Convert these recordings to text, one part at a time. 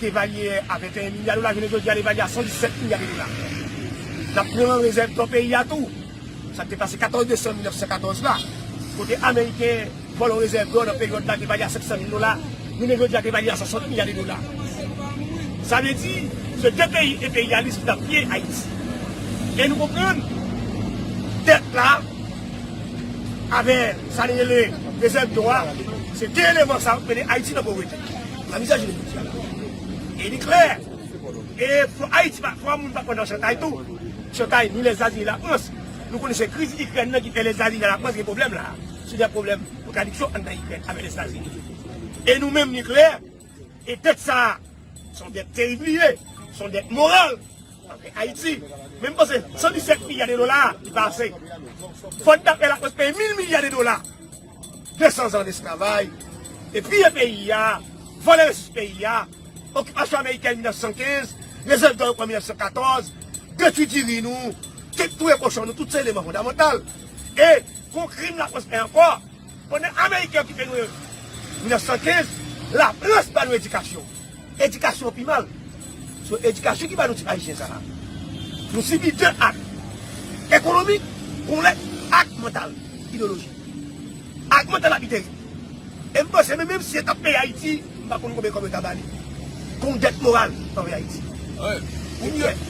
te valye a 21 milya dola jounen jodi a li valye a 117 milya de dola. N ap pran rezèv dò peyi a tou, sa k te pase 14 desanm 1914 la, kote ameriken vòlò rezèv dò nan peryòd la te valye a 500 mil dola, jounen jodi a te valye a 60 milya de dola. Sa vle di, se de peyi enperyalis ki t ap piye Ayiti. E nou konprann dèt la avè sa li rele rezèv dò a, se de eleman sa yo k mennen Ayiti nan povrete. Nan mizè jounen jodi a la, e li klè, e fò Ayiti pa, fò moun pa pran nan chantay tou, chantay ni Lèzetazini la Frans, nou konnen se kriz Ikrèn nan ki fè Lèzetazini a la Frans gen pwoblèm la a, sou dè pwoblèm kontradiksyon anndan Ikrèn avèk Lèzetazini. E nou menm li klè, e dèt sa a, s on dèt terib li ye, s on dèt moral anvè Ayiti. Men m panse 117 milya de dola a li pa ase. Fò n ta fè la Frans peye mil milya de dola. 200 zan lesklavay e piye peyi a, vòlè resous peyi a, okipasyon amerikèn 1915, rezèv dò yo pran 1914, detwi diri nou, touye kochon nou, tout se eleman fondamantal. E gwo krim Lafrans fè ankò, pandan ameriken okipe nou 1915, Lafrans ban nou edikasyon. Edikasyon pi mal. Se edikasyon ki ba nou tip ayisyen sa a. Nou sibi 2 ak. Ekonomik, gon lè, ak mantal, ideyoloji. Ak mantal la pi terib. E m panse menm si yo t ap peye Ayiti, m pa konn konbyen kòb yo ta ba li. Gon dèt moral anvè Ayiti. Ou byen.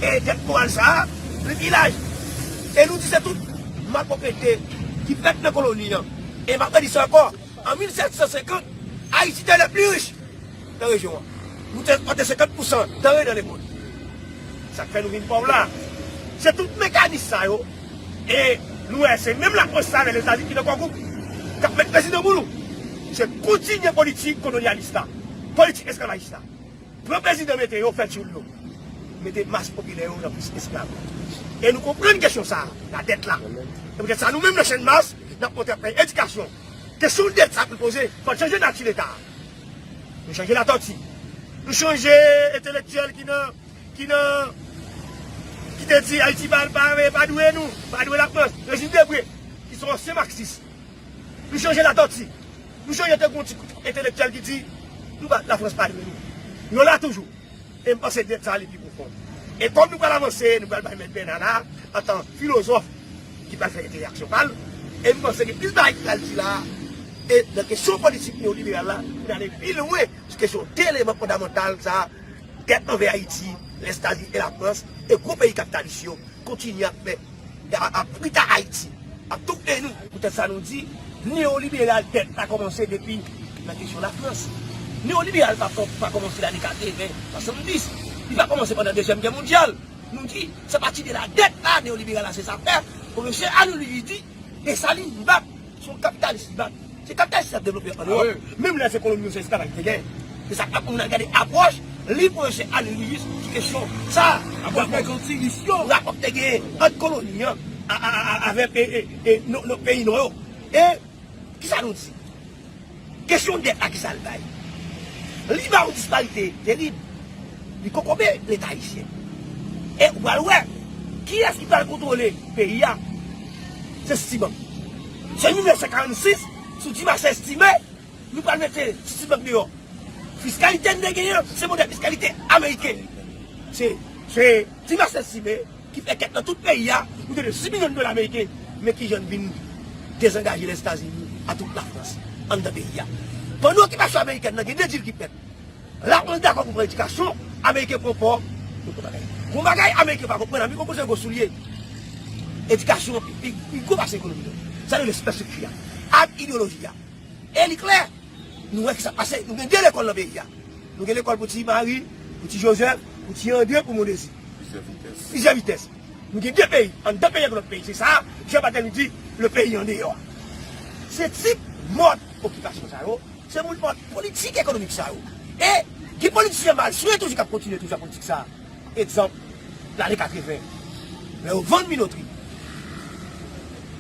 E dèt moral sa a, li pi laj. E nou di se tout malpwoprete ki fèt nan koloni an. E m ap redi sa ankò. An 1750, Ayiti te lè pli rich nan rejyon an. Nou te ekspòte 50 pousan danre nan lemond. Sa k fè nou vin pòv la a? Se tout mekanis sa yo e nou wè se menm Lafrans sa a avè Lèzetazini ki nan kò gwoup k ap met pèsi nan bounou. Se kontinye politik kolonyalis la, politik esklavajis la. Pran prezidan mete yo, fè tyoul yo. Mete mas popilè yo nan plis esklav. E nou konprann kesyon sa a, la dèt la. Se poutèt sa nou menm nan Channmas n ap montre ap fè edikasyon Kesyon deta pou l poze. Fò l chanje nati leta a. Nou chanje Latòti. Nou chanje entelektyèl ki nan, ki nan, ki te di Ayiti pa, pa, pa dwe nou, pa dwe Lafrans. Rejin Debre, ki se yon ansyen maksis. Nou chanje Latòti. Nou chanje te gen yon ti koup entelektyèl ki di nou pa, Lafrans pa dwe nou. Nou la toujou. E m panse dèt sa li pi pwofon. E kòm nou pral avanse, nou pral bay Mèt Bèna la, antan filozòf, ki pral fè entèyaksyon pa l. E m panse gen plis bagay ki pral di la a. E nan kesyon politik neyoliberal la, nou pral ale pi lwen sou kesyon de eleman fondamantal sa a, dèt anvè Ayiti, Lèzetazini e Lafrans, e gwo peyi kapitalis yo kontinye ap fè. Ap pita Haiti. Ap tou pte nou. Pou tèt sa nou di, neoliberal tèt pa kòmanse depi nan kesyon la frans. Neoliberal pa fòk pa kòmanse lane 80, 70. Li pa kòmanse pandan dezyèm gè mondyal. Nou di, se pati de la dèt la neoliberal la se sa fè. Pwofesè Arnold Louis di, Dessalines bat. Se yon kapitalis li bat. Se kapitalis ki ap devlope an Ewòp. Menm lè se koloni yo se esklav ak negè. Se sa k ap pou moun al gade apwòch liv pwofesè Alex Lewis sou kesyon sa a. Rapò ki te genyen ant koloni an avèk peyi nò yo. E kisa nou di? Kesyon dèt la kisa l bay? Li ba yon disparite terib. Li kokobe Leta ayisyen. E ou pral wè kiyès ki pral kontwole peyi a. Se Citibank. Se 1946 sou ti mache estime nou pral mete Citibank deyò. Fiskalite n te genyen se modèl fiskalite ameriken. Se ti mache estime. ki fè kèk nan tout peyi a, nou te dwe 6 milyon dola meriken, men kijan n vin dezangaje Lèzetazini a tout Lafrans anndan peyi a. Pandan okipasyon amerikèn nan gen 2 dil ki fèt, Lafrans dakò pou pran edikasyon, Ameriken pran pò, nou konn bagay. Gon bagay Ameriken pa konprann, Ameriken konprann se gwo soulye, edikasyon an pi gwo pase ekonomi. Sa rele sipèstrikti a ak ideyoloji a. E li klè! Nou wè ki sa k pase. Nou gen de lekòl nan peyi a. Nou gen lekòl pou ti Mari, pou ti Jozèf, pou ti Andre, pou Mondezi. Plizyè vitès. Nou gen de peyi. Anndan peyi ak lòt peyi. Se sa a Jan Batèmi di le peyi andeyò a. Se tip mòd okipasyon sa yo, se moun mòd politik ekonomik sa yo. E gen politisyen malswen toujou k ap kontinye toujou ak politik sa a. Egzanp, lane 80, lè yo vann minotri,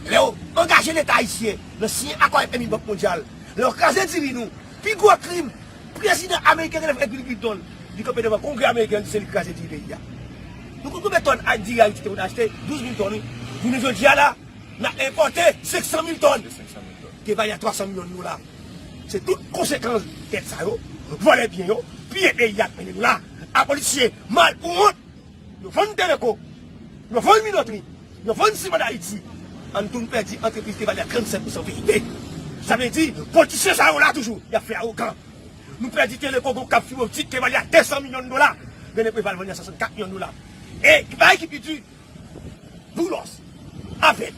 lè yo angaje Leta ayisyen nan siyen akò FMI, Bank Mondyal, Lè yo kraze diri nou, pi gwo krim prezidan ameriken genlè fè diri Clinton, li kanpe devan kongrè ameriken an di se li ki kraze diri peyi a. Nou konn konbyen tòn diri Ayiti te konn achte? 12 mil tòn wi. Jounen jodi a la, n ap enpòte 500 mil tòn ki vale a 300 milyon dola. Se tout konsekans dèt sa yo, vòlè byen yo, piye peyi a k mennen nou la. Apolitisye mal pou wont! yo vann Teleco, yo vann Minotri, yo vann Siman Dayiti, an nou tounen pèdi antrepriz ki te vale a 37 pousan VIP. Sa vle di, politisyen sa yo la toujou, y ap fè awogan. Nou pèdi Teleco gen yon kab fiboptik ki te vale a 200 milyon dola, men Lepreval vann li a 64 milyon dola. E ki bagay ki pi di, Boulos. Afè.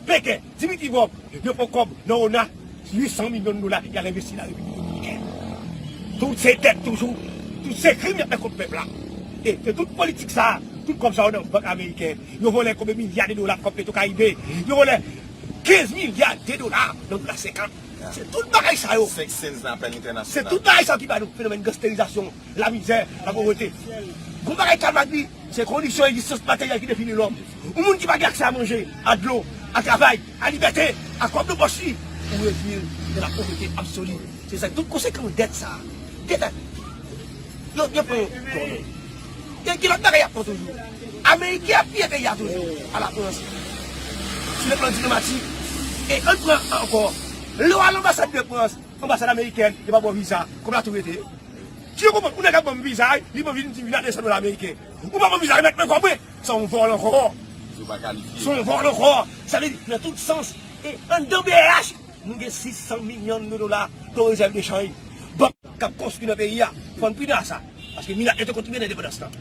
Peken. Dimitri Vorb yo pran kòb nan ona 800 milyon dola yal envesti nan Repiblik Dominiken. Tout se dèt toujou. Tout se krim yap fè kont pèp la. E se tout politik sa a, tout kòb sa yo nan bank ameriken. Yo vòlè konbe milya de dola kòb petro karibe. Yo vòlè 15 milya de dola nan dola 50. Se tout bagay sa yo. Se tout bagay sa yo ki ba nou fenomèn gansterizasyon. Lamizè, lapovrete. Gwo bagay kalm ak bi se kondisyon egzistans materyèl ki defini lòm. Yon moun ki pa gen aksè a manje, a dlo, a travay, a libète, a kòb nan pòch li, ou redui l nan lapovrete absoli. Se zak tout konsekans dèt sa a. Dèt ak. Yo, yo pran kò nou. Gen, gen lòt bagay y ap pran toujou. Ameriken ap piye peyi a toujou, a Lafrans. Sou le plan diplomatik. E ann pran ankò. Lè w al anbasad de Frans. Anbasad amerikèn yo pa baw viza kob la tou rete si yo konprann ou nèg ap banm viza li pran vin dim vin la 200 dola ameriken ou pa banm viza remèt mwen kob mwen se yon vòl ankò se yon vòl ankò sa vle di nan tout sans e anndan brh nou gen 600 milyon de dola kon rezèv de chanj bank kap konstwi nan peyi a fann pina sa. Paske milat yo te kontribye nan endepandans lan.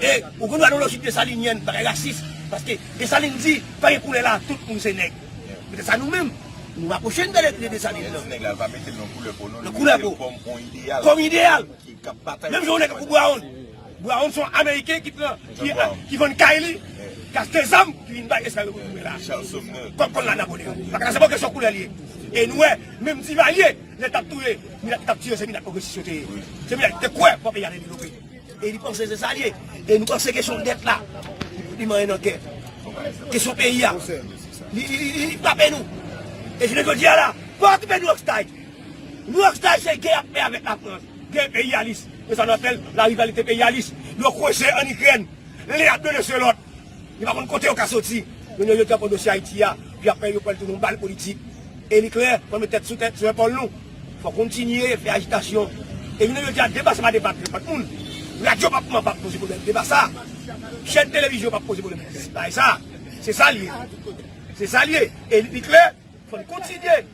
E ou gen dwa nan lojik Desalinyen, bagay rasis. Paske Desalin di, pa gen koulè la, tout moun se nèg. Petèt sa nou menm, nou rapwoche n de Desalin. Lè l di nèg la, l pa mete l nan koulè po non, li mete l kòm yon ideyal. Kòm ideyal. Menm jan yon nèg tankou Brown. Brown se yon Ameriken ki pran, ki vann kay li, ki achte zam, ki vin bay esklav yo pou yo touye la. Kòm kòl la Napoleon. Paske la se pa yon kesyon koulè li ye. E nou wè, menm Divalye. Nèg kap touye milat kap tire se milat pwogresis yo te ye se milat ki te kwè pou peyi a te devlope e li panse se sa li ye e nou panse kesyon dèt la li manyen nan kè kesyon peyi a li frape nou e jounen jodi a la pa okipe nou ak stay nou ak stay se gè yap fè avèk lafrans gè enperyalis e sa nou ap fèl la rivalite enperyalis yo kweche an ikrèn lè yap mele se lòt. Yo pa konn kote yo ka soti. Moun yo jete ankò dosye Ayiti a, epi aprè yo pral tounen yon bal politik. E li klè, pou n met tèt sou tèt, sou epòl nou, fò k kontinye fè ajitasyon. E jounen jodi a, deba sa pa deba ak nenpòt moun. Radyo pap man pa poze pwoblèm deba sa. Chèn televizyon pap poze pwoblèm bagay sa. Se sa l ye. Se sa l ye. E li klè, fò n kontinye.